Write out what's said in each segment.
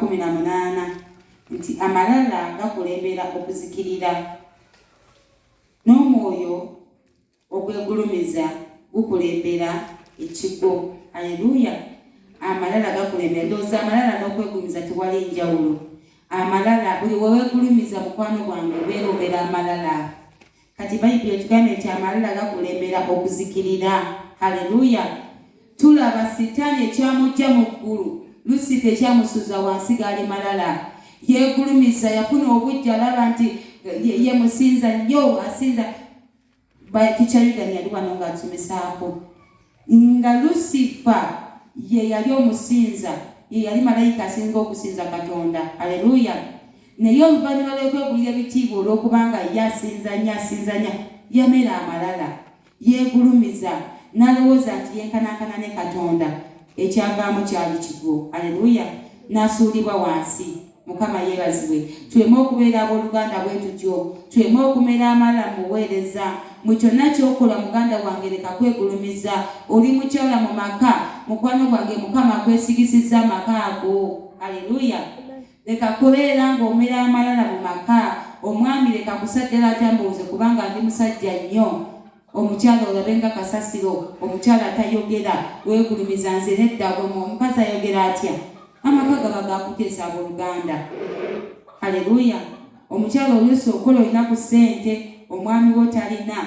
kumi na munaana nti amalala gakulembera okuzikirira n'omwoyo ogwegulumiza gukulembera ekigo aleluya amalala gakulembera ndowooza amalala n'okwegulumiza tewali njawulo amalala buli wewegulumiza mukwano gwange obeera obeera amalala kati bayibuli etugambye nti amalala gakulembera okuzikirira haleluya tulaba sitaani ekyamujja mu ggulu lusifa ekyamusuza wansi gaali malala yegulumiza yafuna obujja alaba nti ye musinza nyo asinza tikyayudani yali wano nga atumisaako Nga Lusifa ye yali omusinza, ye yali malayika asinga okusinza Katonda. Aleluya! Naye oluvannyuma lw'okwegulira ebitiibwa olw'okubanga ye asinza nnyo, asinza nnyo, yamera amalala, yeegulumiza, n'alowooza nti yenkanankana ne Katonda. Ekyavaamu kyali kigwo. Aleluya! N'asuulibwa wansi. mukama yebazibwe tuleme okubeera abooluganda bwe tutyo tuleme okumera amala mu buweereza mu kyonna kyokola muganda wange leka kwegulumiza oli mukyala mu maka mukwano gwange mukama akwesigisizza amaka ago aleluya leka kubeera ng'omera amalala mu maka omwami leka kusajjala atambuuze kubanga ndi musajja nnyo omukyala olabe nga kasasiro omukyala atayogera wegulumiza nze nedda gwemu omukazi ayogera atya amaka gaba gakuteesa abooluganda haleluya omukyala oluusi okola olina ku ssente omwami wo talina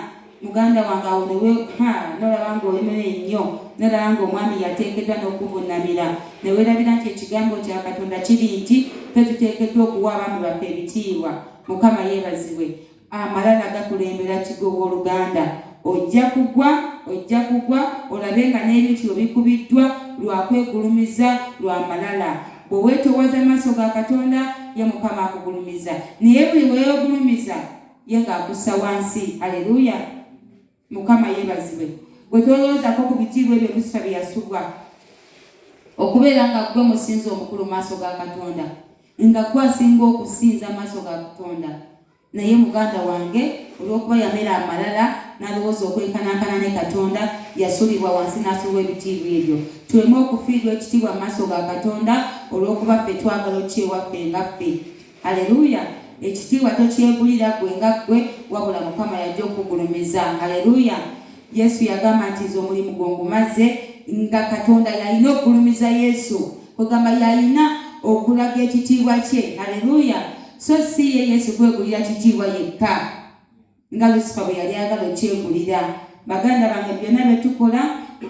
muganda wange awo newe ha nolaba nga olimera ennyo nolaba nga omwami yateekeddwa n'okuvunamira newerabira nti ekigambo kya katonda kiri nti fe tuteekeddwa okuwa abaami baffe ebitiibwa mukama yeebazibwe amalala gakulembera kigo w'oluganda ojja kugwa ojja kugwa olabe nga n'ebintu byo bikubiddwa lwa kwegulumiza lwa malala bwe weetoowaza maaso ga katonda ye mukama akugulumiza naye buli weegulumiza ye ng'akussa wansi aleluya mukama yebazibwe gwetolowozako ku bitiibwa ebyo musa byeyasubwa okubeera nga gwe musinza omukulu maaso ga katonda nga gwe asinga okusinza maaso ga katonda naye muganda wange olwokuba yamera amalala nalowooza okwenkanankana ne katonda yasulibwa wansi nasulwa ebitiibwa ebyo tuleme okufiirwa ekitiibwa mu maaso ga katonda olwokuba ffe twagala okyewaffe nga ffe Haleluya! Ekitiibwa tokyegulira ggwe nga ggwe, wabula Mukama y'ajja okukugulumiza. Haleluya! Yesu yagamba nti nze omulimu gwo ngumaze, nga Katonda yalina okugulumiza Yesu, kwegamba yalina okulaga ekitiibwa kye. Haleluya! So si ye Yesu kwegulira kitiibwa yekka. nga lusifa bwe yali agala okyegulira baganda bange byonna bye tukola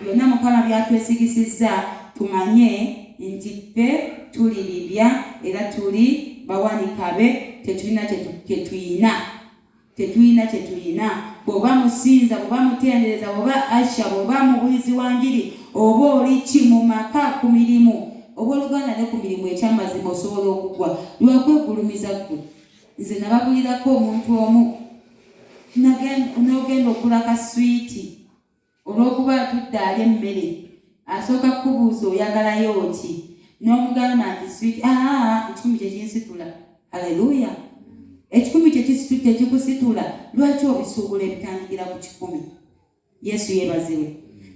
byonna mukama byatwesigisizza tumanye nti ffe tuli bibya era tuli bawanikabe tetulina kyetuyina tetulina kyetuyina bwoba musinza bwoba mutendereza bwoba asha bwoba mubulizi wa njiri oba oli ki mu maka ku mirimu oba oluganda ne ku mirimu ekyamazima osobola okugwa lwakwegulumiza ggwe nze nababulirako omuntu omu n'ogenda okula ka swiiti olw'okuba atudde ali emmere asooka kukubuuza oyagalayo ki n'omugamba nti swiiti aa ekikumi kyekinsitula aleluya ekikumi kyekikusitula lwaki obisuubula ebitandikira ku kikumi Yesu yebaziwe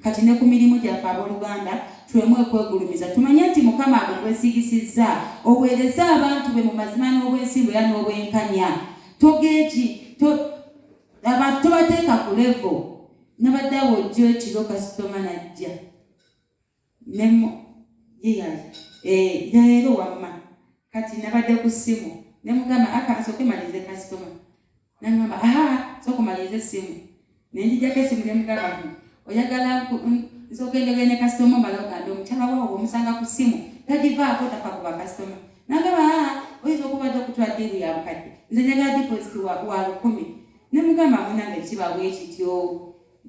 kati ne ku mirimu gyaffe abooluganda tuleme okwegulumiza tumanye nti mukama abo gwesigisizza oweereze abantu be mu mazima n'obwesimbu era n'obwenkanya togeeki abantu tobateeka ku levo nabadde awo ojjo ekiro kasitoma najja nemo yeyali eh, leero wamma kati nabadde ku ssimu ne mugamba aka nsooke malirize kasitoma nangamba aha sooka omalirize essimu ne njijjako essimu ne mugamba nti oyagala nsooka enjogere ne kasitoma omala ogamba omukyala waawo omusanga ku ssimu tagivaako tafa ku bakasitoma nangamba aha oyinza okubadde okutwa ddiiru ya bukadde nze njagala dipositi wa lukumi ne mugamba munange kiba bwekityo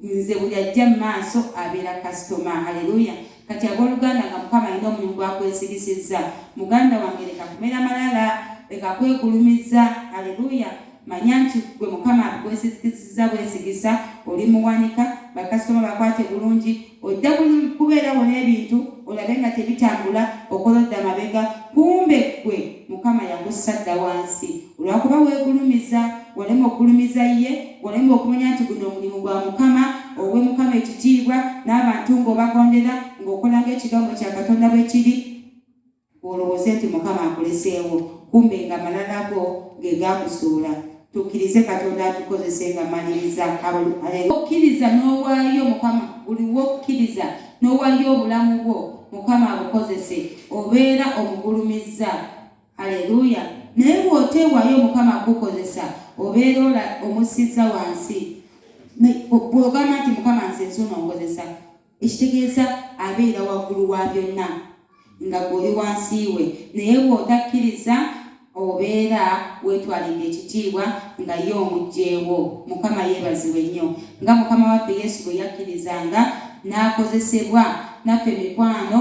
nze buli ajja mu maaso abeera kasitoma haleluya kati abooluganda nga mukama alina omulimu gwakwesirisizza muganda wange leka kumera malala leka kwegulumiza haleluya manya nti gwe mukama abikwesigisiza bwesigisa oli muwanika bakasitoma bakwate bulungi ojja kubeerawo n'ebintu olabe nga tebitambula okola odda mabega kumbe gwe Mukama yakussa dda wansi olwakuba weegulumiza, walema okugulumiza ye, walema okumanya nti guno omulimu gwa Mukama, owe Mukama ekitiibwa n'abantu ng'obagondera, ng'okola ng'ekigambo kya Katonda bwe kiri, olowooze nti Mukama akuleseewo, kumbe nga malala go ge gaakusuula. Tukkirize Katonda atukozese nga maliriza okkiriza n'owaayo Mukama buli wokkiriza n'owaayo obulamu bwo Mukama abukozese obeera omugulumizza aleluya naye bw'oteewaayo Mukama akukozesa obeera ola omussizza wansi bw'ogamba nti Mukama nze nzuno nkozesa ekitegeeza abeera waggulu wa byonna nga gw'oli wansi we naye bw'otakkiriza obeera weetwalidde ekitiibwa nga ye omugyewo mukama yeebazibwe nnyo nga mukama waffe yesu bwe yakkirizanga n'akozesebwa naffe mikwano